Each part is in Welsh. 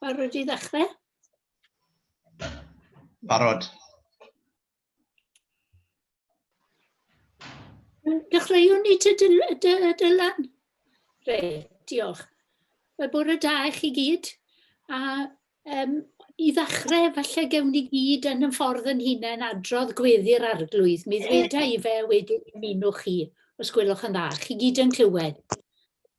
Barod i ddechrau? Barod. Dechreuwn ni te Dylan. Reit, diolch. Mae bore da i chi gyd. A um, i ddechrau, falle gewn ni gyd yn y ffordd yn hunain adrodd gweddi'r arglwydd. Mi ddweda i fe wedyn ymunwch chi, os gwelwch yn dda. Chi gyd yn clywed.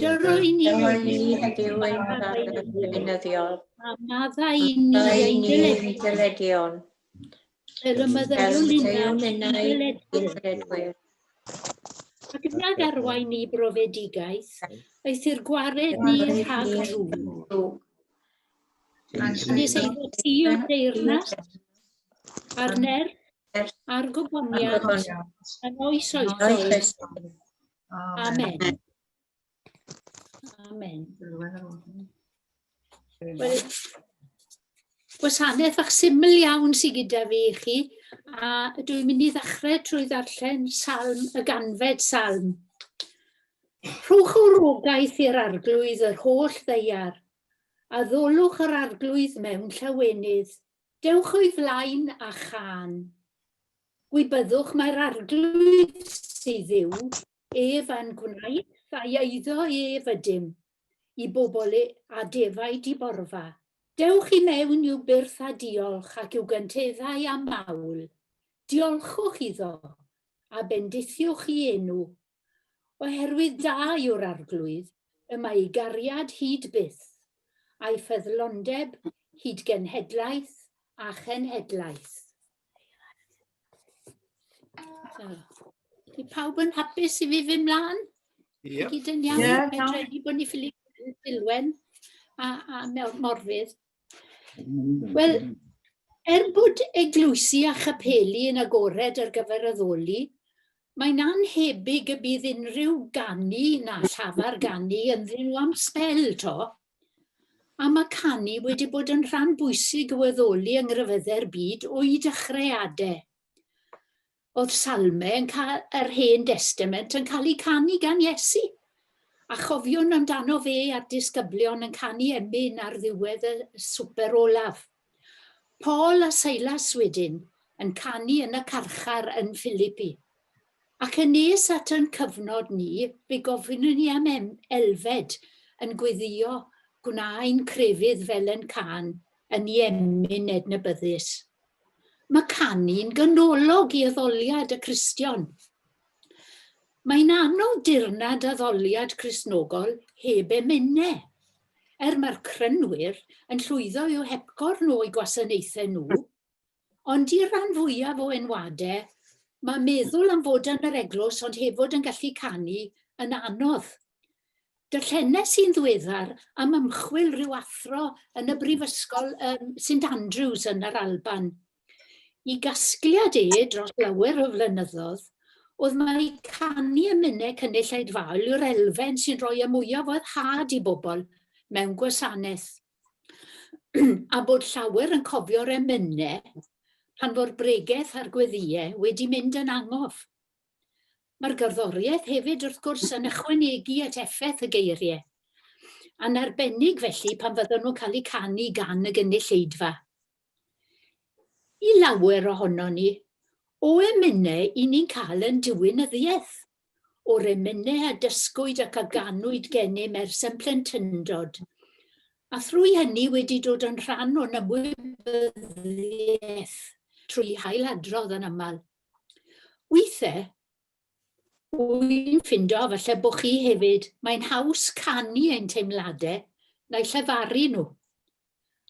Dyrwy ni heddiw ein barn gweinyddiol. A maddau i ni ein dyledion. Fel y meddyliwn ninnau i'n dyledwyr. Ac yna garwain ni brofedigaeth, aeth i'r gwared ni rhag drwg. Nes ei fod ti o deyrnas, a'r nerth, a'r goboniad, yn oes oes oes. Amen. Amen. Wel, gwasanaeth fach syml iawn sy'n gyda fi i chi, a dwi'n mynd i ddechrau trwy ddarllen salm y ganfed salm. Rhowch o'r ogaeth i'r arglwydd yr holl ddeiar, a ddolwch yr arglwydd mewn llawenydd. Dewch o'i flaen a chan. Gwybyddwch mai'r Arglwydd sydd yw ef a'n gwnaeth a'i eiddo ef ydym, i bobl a defaid i borfa. Dewch i mewn i'w byrth â diolch ac i'w gynteddau â mawl. Diolchwch iddo, a bendithiwch i enw Oherwydd da yw'r Arglwydd, y mae ei gariad hyd byth, a'i ffyddlondeb hyd genhedlaeth a chenhedlaeth. Ydy pawb yn hapus i fi fy mlaen? Yep. Gyd yn iawn, yeah, no. bod ni ffili dilwen a, a Morfydd. Wel, er bod eglwysi a chapeli yn agored ar gyfer addoli, mae'n anhebyg y bydd unrhyw ganu na llafar ganu ynddyn nhw am sbel to. A mae canu wedi bod yn rhan bwysig o addoli yng ngryfyddau'r byd o'i dechreuadau. Oedd salmau yn ca- yr Hen Destament yn cael eu canu gan Iesu, a chofiwn amdano fe a'r disgyblion yn canu emyn ar ddiwedd y swper olaf. Paul a Silas wedyn yn canu yn y carchar yn Philippi. Ac yn nes at yn cyfnod ni, fe gofynnwn ni am em- elfed yn gweddio gwna ein crefydd fel yn can yn iemyn ednybyddus. Mae canu'n ganolog i addoliad y Cristion. Mae'n anodd dirnad addoliad Cristnogol heb emynau. Er mae'r crynwyr yn llwyddo i'w hepgorn o'u gwasanaethau nhw, ond i'r rhan fwyaf o enwadau, mae meddwl am fod yn yr eglwys ond hefod yn gallu canu yn anodd. Darllenes i'n ddiweddar am ymchwil rhyw athro yn y Brifysgol um, St Andrews yn yr Alban. I gasgliad e dros lawer o flynyddoedd, oedd mae canu y minnau cynulleid fawl yw'r elfen sy'n rhoi y mwyaf oedd had i bobl mewn gwasanaeth. a bod llawer yn cofio'r emynau pan fo'r bregeth a'r gweddiau wedi mynd yn angof. Mae'r gerddoriaeth hefyd, wrth gwrs, yn ychwanegu at effaith y geiriau. Yn arbennig felly pan fyddan nhw'n cael eu canu gan y gynulleidfa. I lawer ohonon ni, o emynau i ni'n cael yn diwinyddiaeth, o'r emynau a dysgwyd ac a ganwyd gennym ers yn plentyndod, a thrwy hynny wedi dod yn rhan o'n ymwybyddiaeth, trwy hailadrodd yn aml. Withe, wy'n ffindo, falle bo chi hefyd, mae'n haws canu ein teimlade na'u llefaru nhw.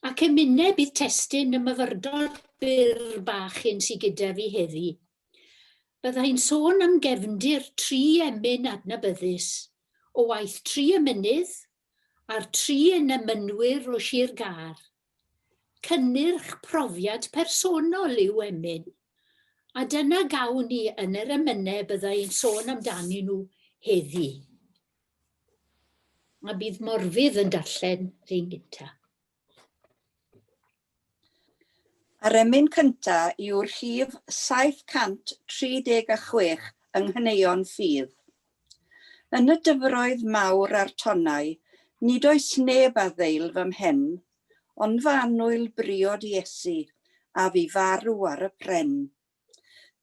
Ac emine bydd testun y myfyrdod byr bach hyn sy gyda fi heddi. Bydda i'n sôn am gefndir tri emyn adnabyddus o waith tri emynydd a'r tri yn emynwyr o Shir Gâr. Cynnyrch profiad personol yw emyn, a dyna gawn ni yn yr emynau bydda i'n sôn amdanyn nhw heddi. A bydd Morfydd yn darllen rhywun gyntaf. Yr emyn cyntaf yw'r rhif 736 yng nghaneuon ffydd. Yn y dyfroedd mawr a'r tonnau, nid oes neb a ddeil fy mhen, ond fy annwyl briod Iesu, a fu farw ar y pren.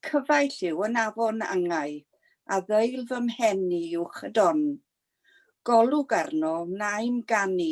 Cyfaill yw yn afon angau, a ddeil fy mhen i uwch y don. Golwg arno wnaem ganu,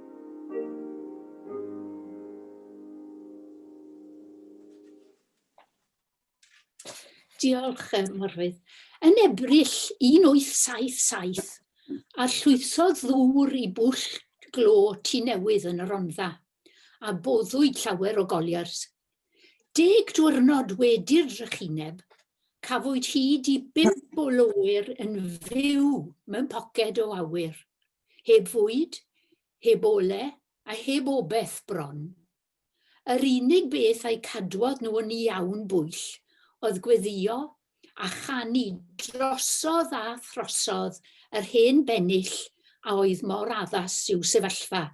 Diolch, um, Morfydd. Yn Ebrill 1877, a llwythodd ddŵr i bwll glo tu newydd yn y Rondda, a boddwyd llawer o goliers. Deg diwrnod wedi'r drychineb, cafwyd hyd i bimp o loer yn fyw mewn poced o awyr. heb fwyd, heb ole, a heb obeth bron. Yr unig beth a'u cadwodd nhw yn iawn bwyll oedd gweddïo a chanu drosodd a throsodd yr hen bennill a oedd mor addas i'w sefyllfa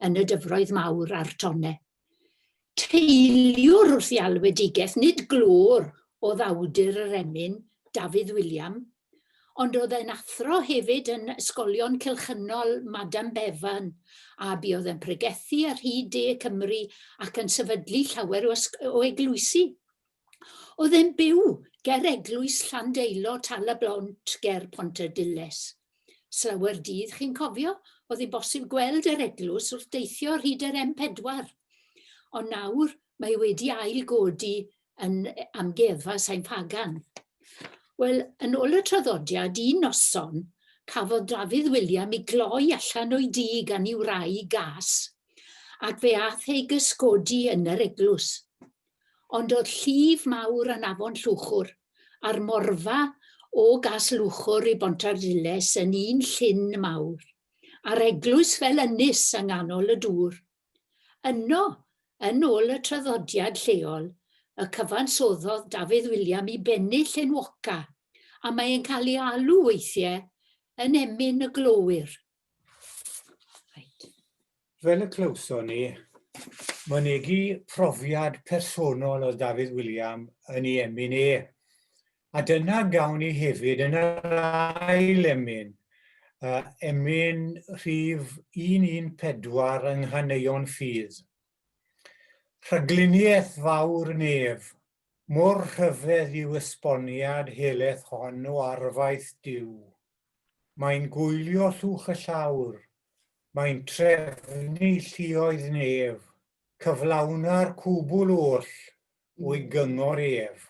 yn y dyfroedd mawr a'r tonnau. Teiliwr wrth ei alwedigaeth, nid glöwr oedd awdur yr emyn, Dafydd William, ond oedd e'n athro hefyd yn Ysgolion Cylchynol Madame Bevan, a buodd yn pregethu ar hyd De Cymru ac yn sefydlu llawer o eglwysi. oedd yn byw ger eglwys Llandeilo, Tal y Blont, ger Pontarddulais. Slawer dydd, chi'n cofio, oedd hi'n bosib gweld yr eglwys wrth deithio ar hyd yr M4. Ond nawr mae wedi ail godi yn amgueddfa Sain Pagan. Wel, yn ôl y traddodiad, un noson, cafodd Dafydd William i gloi allan o'i dŷ gan i'w rai gas, ac fe ath ei gysgodi yn yr eglwys. ond o'dd llif mawr yn afon Llwchwr, a'r morfa o Gas Lwchwr i Bontarddulais yn un llyn mawr, a'r eglwys fel ynys yng nghanol y dŵr. Yno, yn ôl y traddodiad lleol, y cyfansoddodd Dafydd William i bennill enwoca, a mae e'n cael ei alw weithie yn Emyn y Glowyr. Fel y clywson ni, mynegi profiad personol oedd Dafydd William yn ei emyn e. A dyna gawn ni hefyd yn yr ail emyn, uh, emyn rhif 114 yng Nghaneuon Ffydd. Rhagluniaeth fawr nef, Mor rhyfedd yw esboniad heleth hon o arfaeth Duw. Mae'n gwylio llwch y llawr, mae'n trefnu lluoedd nef, cyflawna'r cwbl oll o'i gyngor ef.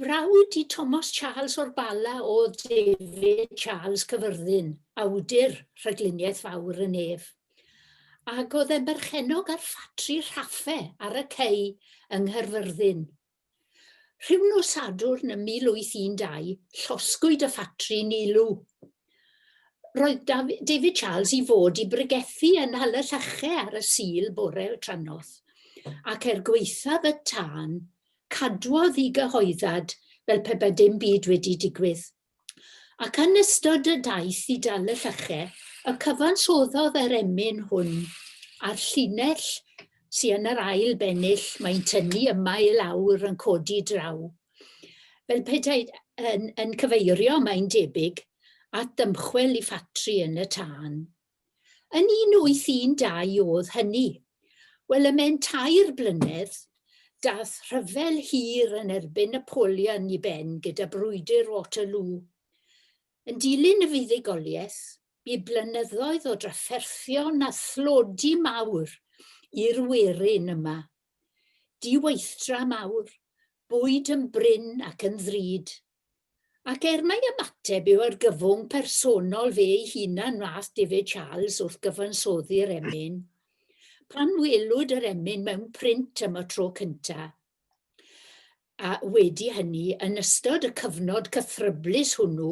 Brawd i Thomas Charles o'r Bala oedd David Charles Cyfyrddin, awdur Rhagluniaeth Fawr y Nef, ac oedd e'n berchennog ar ffatri rhaffe ar y cei yng Nghaerfyrddin. Rhyw nos Sadwrn ym 1812, llosgwyd y ffatri'n ulw. Roedd David Charles i fod i bregethu yn Nhal y Llache ar y Sul bore trannoth, ac er gwaethaf y tân, Cadwodd i gyhoeddad fel pe bai dim byd wedi digwydd. Ac yn ystod y daith i Dal y Lleche, y cyfansoddodd yr emyn hwn a'r llinell sy yn yr ail bennill, mae'n tynnu yma i lawr yn codi draw. Fel petai yn, yn cyfeirio, mae'n debyg, at ddymchwel i ffatri yn y tân. Yn 1812 o'dd hynny. Wel, y mewn tair blynedd, dath rhyfel hir yn erbyn Napoleon i ben gyda Brwydr Waterloo. Yn dilyn y fuddugoliaeth, bu blynyddoedd o drafferthion a thlodi mawr i'r werin yma. Diweithdra mawr, bwyd yn brin ac yn ddrud. Ac er mai ymateb yw argyfwng personol fe ei hunan wnaeth David Charles wrth gyfansoddi'r emyn, pan welwyd yr emyn mewn print am y tro cyntaf, a wedi hynny, yn ystod y cyfnod cythryblus hwnnw,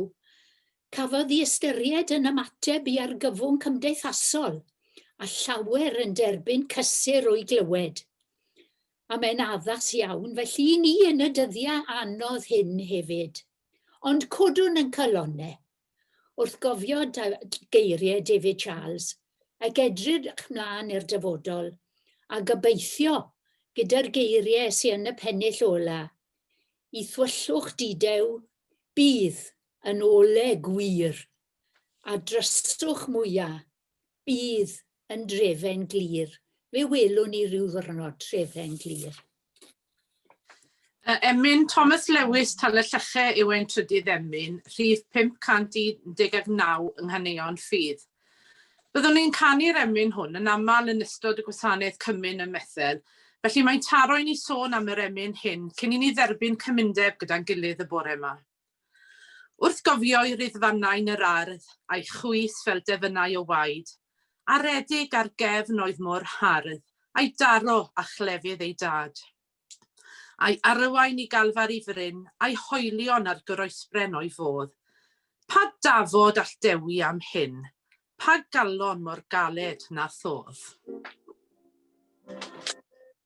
cafodd ei ystyried yn ymateb i argyfwng cymdeithasol, a llawer yn derbyn cysur o'i glywed. A mae'n addas iawn felly i ni yn y dyddiau anodd hyn hefyd. Ond codwn yn calonne wrth gofio geiriau David Charles ac edrych 'mlaen i'r dyfodol, a gobeithio, gyda'r geiriau sy yn y pennill ola, i thwyllwch didew bydd yn ole gwir, a dryswch mwya Bydd yn drefen glir. Fe welwn ni rhyw ddwrnod trefen glir. Y emyn Thomas Lewis Tal-y-lleche yw ein trydydd emyn, rhif 519 yng Nghaneuon Ffydd. Byddwn ni'n canu'r emyn hwn yn aml yn ystod y gwasanaeth Cymun ym Methel, felly mae'n taro i ni sôn am yr emyn hyn cyn i ni dderbyn cymundeb gyda'n gilydd y bore 'ma. Wrth gofio'i ryddfannau yn yr ardd, a'i chwys fel defynnau o waed, aredig ar gefn oedd mor hardd a'i daro â chlefydd ei dad. A'i arwain i Galfari fryn, a'i hoelion ar groesbren o'i fodd. Pa dafod all dewi am hyn? Pa galon mor galed na thodd?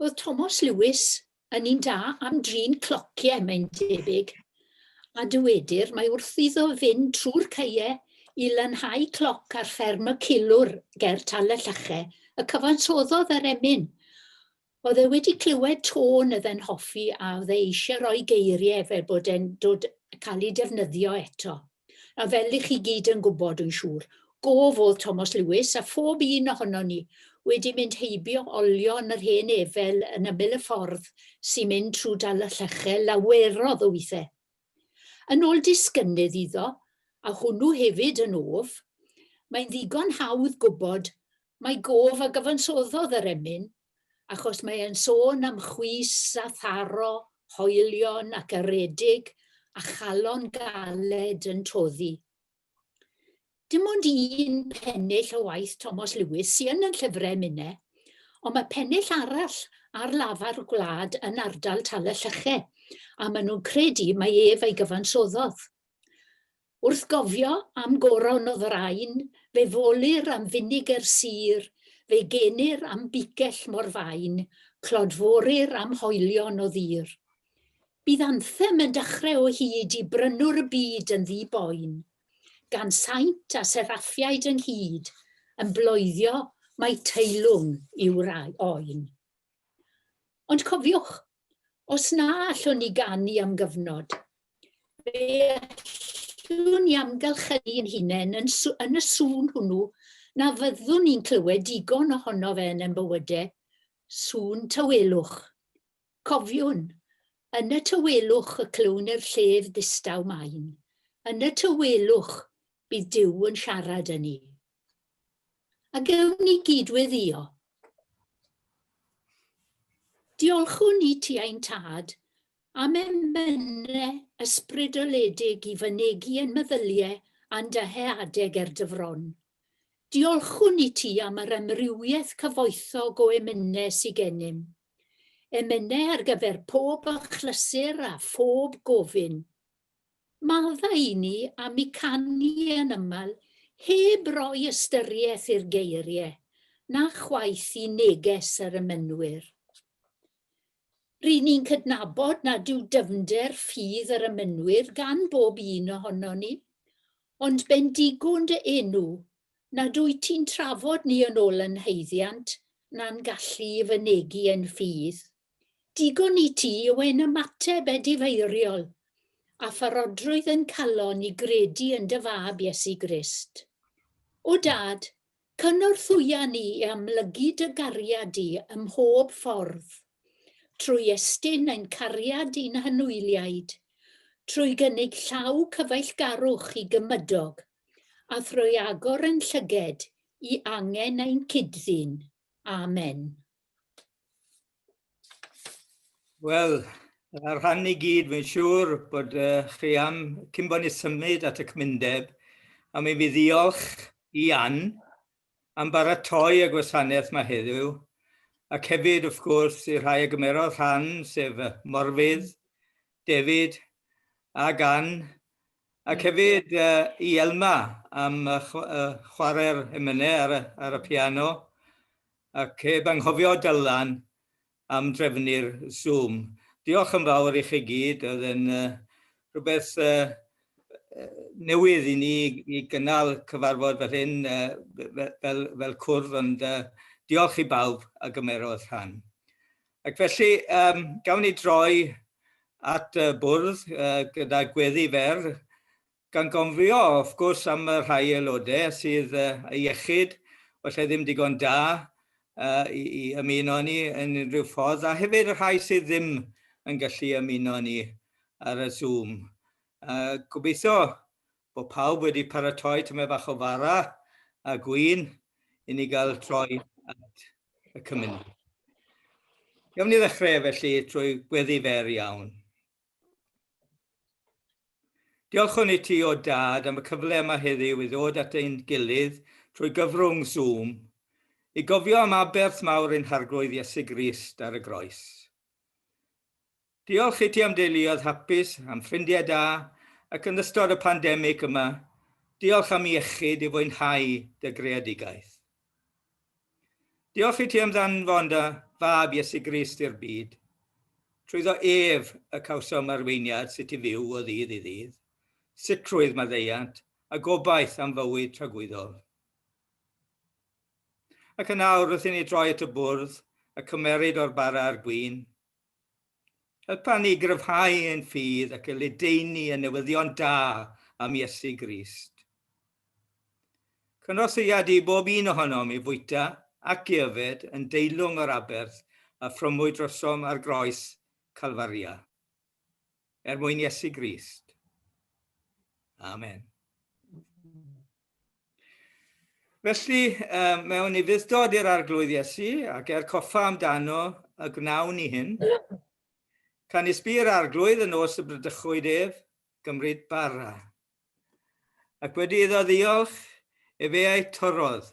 Oedd Thomas Lewis yn un da am drin clociau, mae'n debyg, a dywedir mae wrth iddo fynd trwy'r caeau i lanhau cloc ar fferm y Cilwr ger Tal y Llache, y cyfansoddodd yr emyn. Oedd e wedi clywed tôn oedd e'n hoffi a oedd e eisiau rhoi geiriau fel bod e'n dod cael eu defnyddio eto. A fel i chi gyd yn gwybod, dwi'n siŵr, gof oedd Tomos Lewis a phob un ohonon ni wedi mynd heibio olio yn yr hen efel yn ymyl y ffordd sy'n mynd trwy Dal y Llechau lawerodd o withau. Yn ôl disgynnydd iddo, a hwnnw hefyd yn of, mae'n ddigon hawdd gwybod mai gof a gyfansoddodd yr emyn, achos mae e'n sôn am chwys a tharo, hoelion ac aredig, a chalon galed yn toddi. Dim ond un pennill o waith Tomos Lewis sy'n yn llyfrau Mine, ond mae pennill arall ar lafar y gwlad yn ardal Tal y Llyche, a maen nhw'n credu mae ef ei gyfansoddodd. Wrth gofio am goron o ddrain, fe folir am finiger sur, fe genir am bigell mor fain, clodforir am hoelion o ddur. Bydd Anthem yn dechrau o hyd i Brynwr y Byd yn ddi-boen, gan saint a seraffiaid ynghyd yn bloeddio mai teilwng yw'r oen. Ond cofiwch, os na allwn ni ganu am gyfnod, fe allwn ni amgylchynu yn hunain yn, yn y sŵn hwnnw na fyddwn ni'n clywed digon ohono fe yn ein bywydau, sŵn tawelwch, Cofiwn, yn y tawelwch y clywn i'r llef ddistaw main, yn y tawelwch bydd Duw yn siarad â ni. A gewn ni gyd-weddïo. Diolchwn ni ti ein tad, am emynau ysbrydoledig i fynegi yn meddyliau a'n dyheadeg er dy fron. Diolchwn ni ti am yr amrywiaeth cyfoethog o emynau sy gennym. Emynau ar gyfer pob achlysur a phob gofyn. Maddau i ni am y canu yn aml heb roi ystyriaeth i'r geiriau, na chwaith i neges yr emynwyr. Ry'n ni'n cydnabod nad yw dyfnder ffydd yr emynwyr gan bob un ohonon ni, ond bendigwn dy enw nad wyt ti'n trafod ni yn ol yn haeddiant na'n gallu i fynegi ein ffydd. Digon i ti yw ein ymateb edifeiriol a pharodrwydd ein calon i gredu yn dy Fab Iesu Grist. O Dad, cynorthwya ni i amlygu dy gariad di ym mhob ffordd, trwy estyn ein cariad i'n hanwyliaid, trwy gynnig llaw cyfeillgarwch i gymydog a thrwy agor ein llyged i angen ein cyd-ddyn. Amen. Wel, a rhan i gyd, mae'n siŵr bod uh, chi am cyn bod ni symud at y cymundeb, a mi fi ddiolch i Ann am baratoi y gwasanaeth yma heddiw, ac hefyd, wrth gwrs, i'r rhai a gymerodd rhan, sef Morfydd, David a Gan, ac hefyd i Elma am chwarae'r emynau ar y piano, ac heb anghofio Dylan, am drefnu'r Zoom. Diolch yn fawr i chi gyd, oedd yn rhywbeth newydd i ni i gynnal cyfarfod fel hyn fel, fel cwrdd, ond diolch i bawb a gymerodd rhan. Ac felly, um, gawn ni droi at y bwrdd uh, gyda gweddi fer Gan gofio, wrth gwrs, am y rhai aelodau sydd â iechyd falle ddim digon da i ymuno â ni yn unrhyw ffordd, a hefyd y rhai sydd ddim yn gallu ymuno â ni ar y Zoom. Gobeithio bod pawb wedi paratoi tamaid bach o fara a gwin i ni gael troi at y cymuned. Gawn ni ddechrau felly trwy gweddi fer iawn. Diolchwn i ti o dad am y cyfle yma heddiw i ddod at ein gilydd trwy gyfrwng Zoom i gofio am aberth mawr ein Harglwydd Iesu Grist ar y Groes. Diolch i ti am deuluoedd hapus, am ffrindiau da, ac yn ystod y pandemig yma, diolch am iechyd i fwynhau dy greadigaeth. Diolch i ti am ddanfon dy fab Iesu Grist i'r byd. Trwyddo ef y cawsom arweiniad sut i fyw o ddydd i ddydd, sicrwydd maddeuant a gobaith am fywyd tragwyddol. Ac yn awr wrth i ni droi at y bwrdd a cymeryd o'r bara a'r gwin, Helpa ni gryfhau ein ffydd ac y ledaenu y newyddion da am Iesu Grist. Cynorthwya di bob un ohonom i fwyta ac i yfed yn deilwng o'r aberth a ffrymwyd drosom ar groes Calfaria. Er mwyn Iesu Grist. Amen. Felly, um, mewn i fuddod i'r arglwydd Iesu, ac er coffa amdano y gwnawn ni hyn. Can isbi'r arglwydd yn os y brydychwyd ef, gymryd bara. Ac wedi iddo ddiolch, efe ei torodd,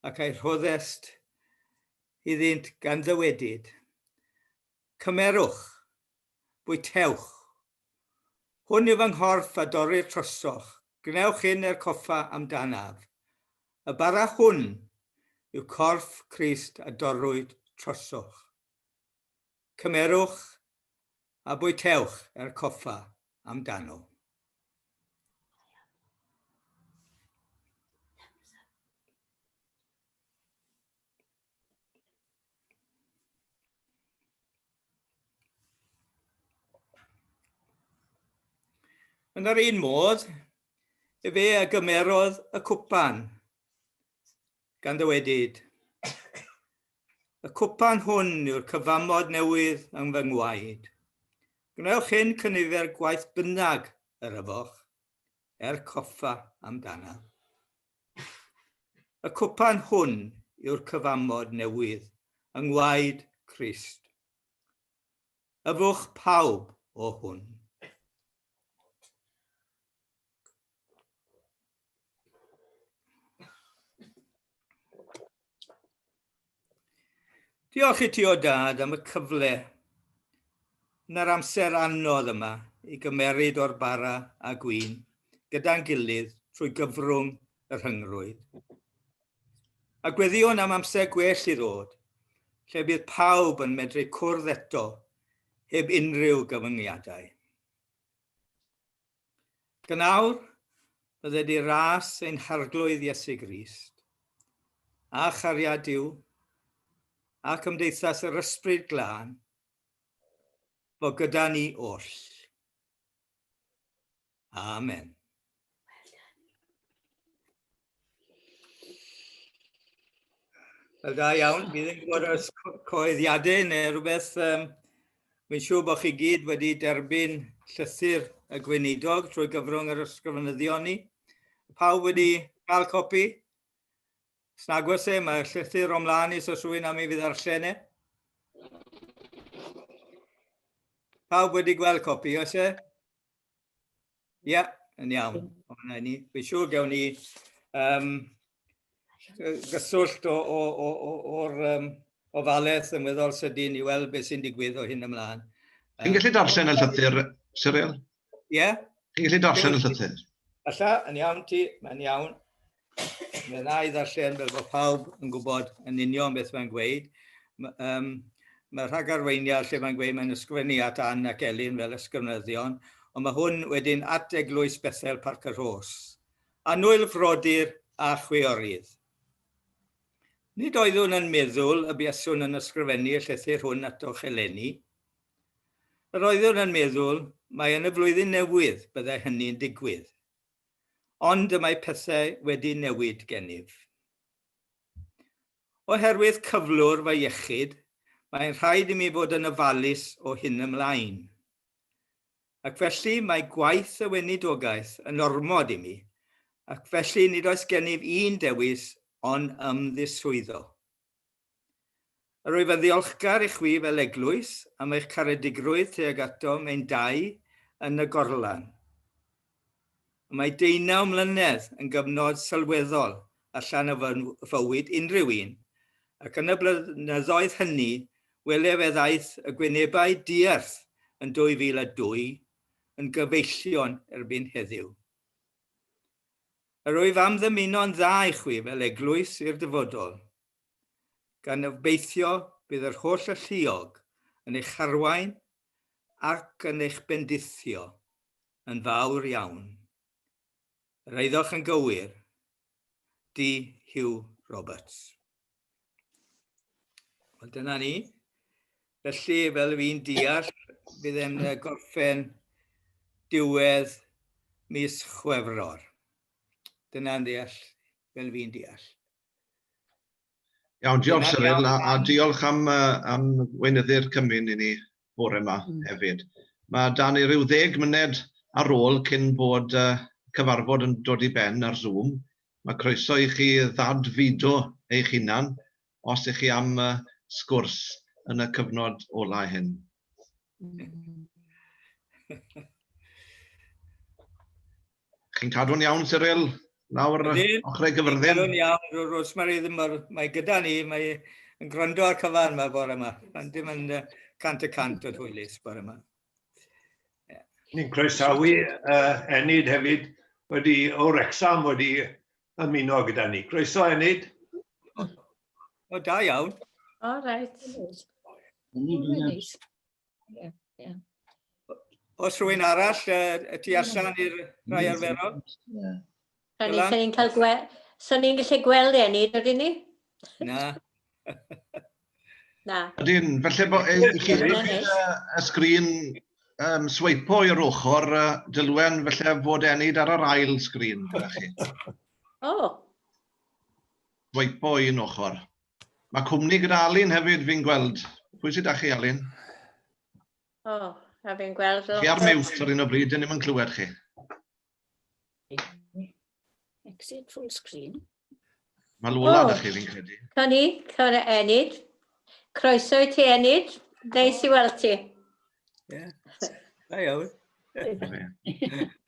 ac ei rhoddest iddynt gan ddywedyd. Cymerwch, bwytewch. Hwn yw fy nghorff a dorrir trosoch, gwnewch hyn er coffa amdanaf. Y bara hwn yw corff Crist a dorrwyd trosoch. Cymerwch a bwytewch er coffa amdano. Yn yr un modd, y fe a gymerodd y cwpan gan ddywedyd. Y cwpan hwn yw'r cyfamod newydd yng fy ngwaed. Gwnewch hyn cynifer gwaith bynnag yr yfoch, er coffa amdana. Y cwpan hwn yw'r cyfamod newydd yng ngwaed Crist. Yfwch pawb o hwn. Diolch i ti o dad am y cyfle yn yr amser anodd yma i gymeryd o'r bara a gwin gyda'n gilydd trwy gyfrwng y rhyngrwyd. A gweddiwn am amser gwell i ddod, lle bydd pawb yn medru cwrdd eto heb unrhyw gyfyngiadau. Gan awr, bydde di ras ein harglwydd Iesu Grist, a chariad Duw, a cymdeithas yr Ysbryd Glân, fo gyda ni oll. Amen. Wel, da iawn. Bydd yn gwybod os coeddiadau neu rhywbeth. Um, Mae'n siŵr bod chi gyd wedi derbyn llythyr y gweinidog trwy gyfrwng yr ysgrifenyddion ni. Pawb wedi cael copi? Snagwys e, mae llythyr o'n mlaen i os rwy'n am i fydd ar e. Pawb wedi gweld copi, oes e? Ie, yeah, yn iawn. Fi'n siŵr gawn ni um, gyswllt o'r um, ofaledd yn weddol sydyn i weld beth sy'n digwydd o hyn ymlaen. Chi'n gallu darllen y llythyr, Cyril? Ie. Yeah. Chi'n gallu darllen y llythyr? Alla, yn iawn ti, mae'n iawn. Mae yna i ddarllen fel bod pawb yn gwybod yn union beth mae'n gweud. Mae, um, mae rhagarweiniau lle mae'n gweud mae'n ysgrifennu at Ann ac Elin fel ysgrifenyddion, ond mae hwn wedyn at Eglwys Bethel Parc y Rhos. Anwyl frodyr a chwiorydd. Nid oeddwn yn meddwl y buaswn yn ysgrifennu y llythyr hwn atoch eleni. Yr oeddwn yn meddwl mae yn y flwyddyn newydd byddai hynny'n digwydd. ond y mae pethau wedi newid gennyf. Oherwydd cyflwr fy iechyd, mae'n rhaid i mi fod yn ofalus o hyn ymlaen. Ac felly mae gwaith y weinidogaeth yn ormod i mi, ac felly nid oes gennyf un dewis ond ymddiswyddo. Rwyf yn ddiolchgar i chwi fel Eglwys am eich caredigrwydd tuag atom ein dau yn y gorlan. Mae deunaw mlynedd yn gyfnod sylweddol allan o fy fywyd unrhyw un, ac yn y blynyddoedd hynny welef fe ddaeth y gwynebau diarth yn 2002 yn gyfeillion erbyn heddiw. Yr wyf am ddymuno'n dda i chwi fel eglwys i'r dyfodol, gan obeithio bydd yr holl alluog yn eich harwain ac yn eich bendithio yn fawr iawn. Yr eiddoch yn gywir. Di Hugh Roberts. Wel, dyna ni. Felly, fel fi'n deall, bydd e'n gorffen diwedd mis Chwefror. Dyna'n deall, fel fi'n deall. Iawn, diolch Cyril, a, a diolch am, uh, am weinyddu'r cymun i ni. bore 'ma hefyd. Ma' 'da ni ryw ddeg myned ar ôl cyn bod y cyfarfod yn dod i ben ar Zoom. Ma' croeso i chi ddad-fudo eich hunan os ych chi am y sgwrs yn y cyfnod ola hyn. Chi'n cadw'n iawn, Cyril? Nawr, ochrau gyfyrddin. Cadw'n iawn, Rosemary ddim mor... Mae gyda ni, mae yn gwrando ar cyfan yma bore yma. Mae'n dim yn cant y cant o hwylus bore yma. Yeah. Ni'n croesawu uh, Enid hefyd wedi o Rexham wedi ymuno gyda ni. Croeso Enid. O, o da iawn. O, reit. Enid, Yeah, yeah. Os rhywun arall y tu allan i'r rhai arferol? Rhaid ni, ni'n cael gweld... Sa'n ni'n gallu gweld e, ni, dydyn ni? Na. Na. Ydyn, felly bod e, i chi y sgrin um, sweipo i'r ochr uh, dylwen felly fod enid ar yr ail sgrin gyda chi. O. Oh. Sweipo i'n ochr. Mae cwmni gyda Alun hefyd, fi'n gweld. Pwy sydd â chi, Alun? O, oh, a fi'n gweld lot... Chi ar mute ar un o bryd, dyn ni'n clywed chi. Exit full screen. Mae Lola oh. chi, fi'n credu. Can i, can i enid. Croeso i ti enid. Neis i weld ti. Ie. Da iawn.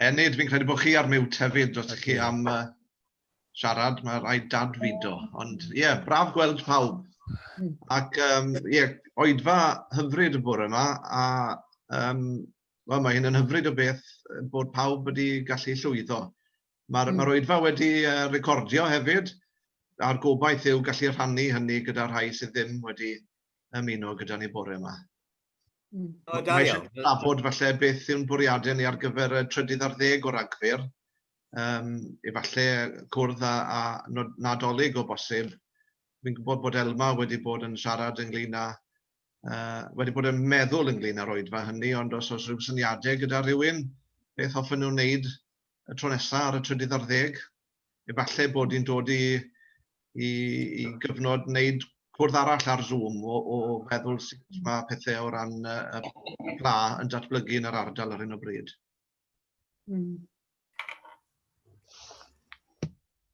Enid, fi'n credu bod chi ar mute hefyd, os ydych chi am uh, siarad, mae rhaid dadfudo. Ond ie, yeah, braf gweld pawb. Hmm. Ac ie, um, yeah, oedfa hyfryd y bore yma, a um, well, mae hyn yn hyfryd o beth bod pawb wedi gallu llwyddo. Mae'r mm. ma oedfa wedi uh, recordio hefyd, a'r gobaith yw gallu rhannu hynny gyda rhai sydd ddim wedi ymuno gyda ni bore yma. Mae eisiau trafod falle beth yw'n bwriadau ni ar gyfer y trydydd ar ddeg o Ragfyr. Um, efallai cwrdd â, â Nadolig o bosib. Fi'n gwybod bod Elma wedi bod yn siarad ynglyn â, uh, wedi bod yn meddwl ynglyn â'r oedfa hynny, ond os oes rhyw syniadau gyda rhywun, beth hoffen nhw'n wneud y tro nesaf ar y trydydd ar ddeg? efallai bod hi'n dod i, i, i gyfnod wneud cwrdd arall ar Zoom o, o feddwl sut mae pethau o ran y pla yn datblygu yn yr ardal ar hyn o bryd. Mm.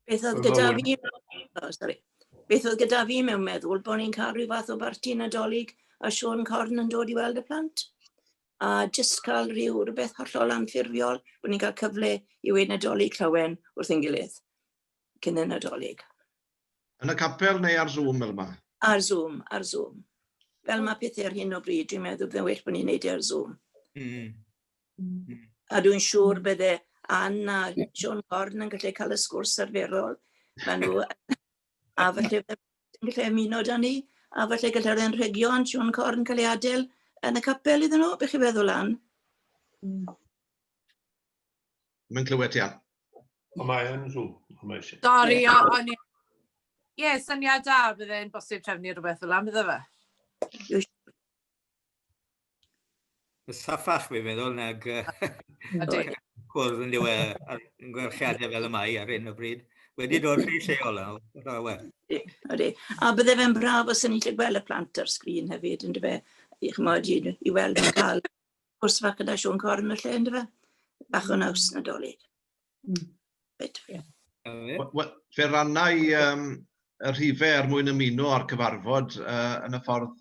Beth oedd gyda fi... Oh, sorry. Beth oedd gyda fi mewn meddwl bod ni'n cael rhyw fath o barti nadolig a Sean Corn yn dod i weld y plant? a jyst cael rhyw rhywbeth hollol anffurfiol, bod ni'n cael cyfle i weud Nadolig llawen wrth ein gilydd cyn y Nadolig. Yn y capel neu ar Zoom fel yma? Ar Zoom, ar Zoom. Fel mae pethau ar hyn o bryd, dwi'n meddwl byddai'n well bod ni'n neud e ar Zoom. Mm. Mm. A dwi'n siŵr bydde Anne a Sean Corn yn gallu cael y sgwrs arferol. Mae nhw a falle ddim yn gallu ymuno da ni, a falle gallai'r anrhegion Siôn Corn cael ei adael yn y capel iddyn nhw, beth chi'n feddwl, Ann? Mm. Mae'n clywed ti, Ann. O, mae yn rhyw. Sorry, o'n i... Ie, syniad da, bydd e'n bosib trefnu rhywbeth fel am, iddo fe. Mae'n saffach, fi'n meddwl, nag cwrdd yn dywe yn gwerchiadau fel y mae ar hyn o bryd. Wedi dod rhy lleol nawr, rhaid we. Ydy, A bydde fe'n braf os ni'n gallu gweld y plant ar sgrin hefyd, yn dyfe? I chymod, i, i weld yn cael cwrs fach gyda Siôn Corn y lle, yn dyfe? Bach o naws nadolig. Mm. Bit. Yeah. Wel, fe rannau um, y rhifau er mwyn ymuno â'r cyfarfod uh, yn y ffordd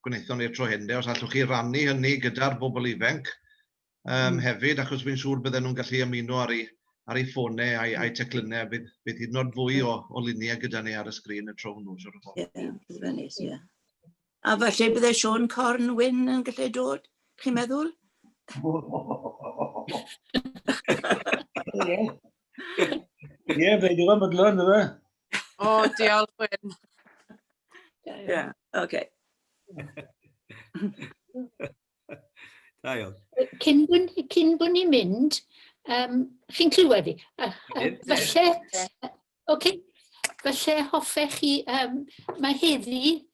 gwnaethon ni'r tro hyn, de, os allwch chi rannu hynny gyda'r bobl ifanc um, mm. hefyd, achos fi'n siŵr bydden nhw'n gallu ymuno ar ei, ar ei ffônau a'i, a'i teclynnau, bydd, bydd hyd yn oed fwy o, o luniau gyda ni ar y sgrin y tro hwnnw, siwr o fod. Ie, A falle bydde Sean Corn Wyn yn gallu dod, chi'n meddwl? Ie, fe digon bydlon, dwi fe. O, diolch, Wyn. Ie, oce. Da iawn. Cyn bod, cyn bod ni'n mynd, um, chi'n clywed i? Uh, uh, felly, oce, okay. felly hoffech chi, um, mae heddi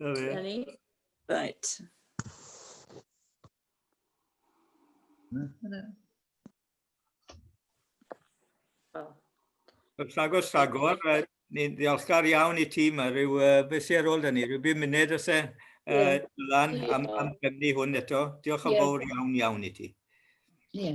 Na fe. Dyna ni. Right. Wel, Wrth agos rhagor, yy, ni'n ddiolchgar iawn i ti, mae rhyw, uh, beth sy'n ar ôl da ni, rhyw bum munud os e, Ie. uh, lan am, am drefnu hwn eto. Diolch yn Ie. fawr iawn iawn i ti. Ie.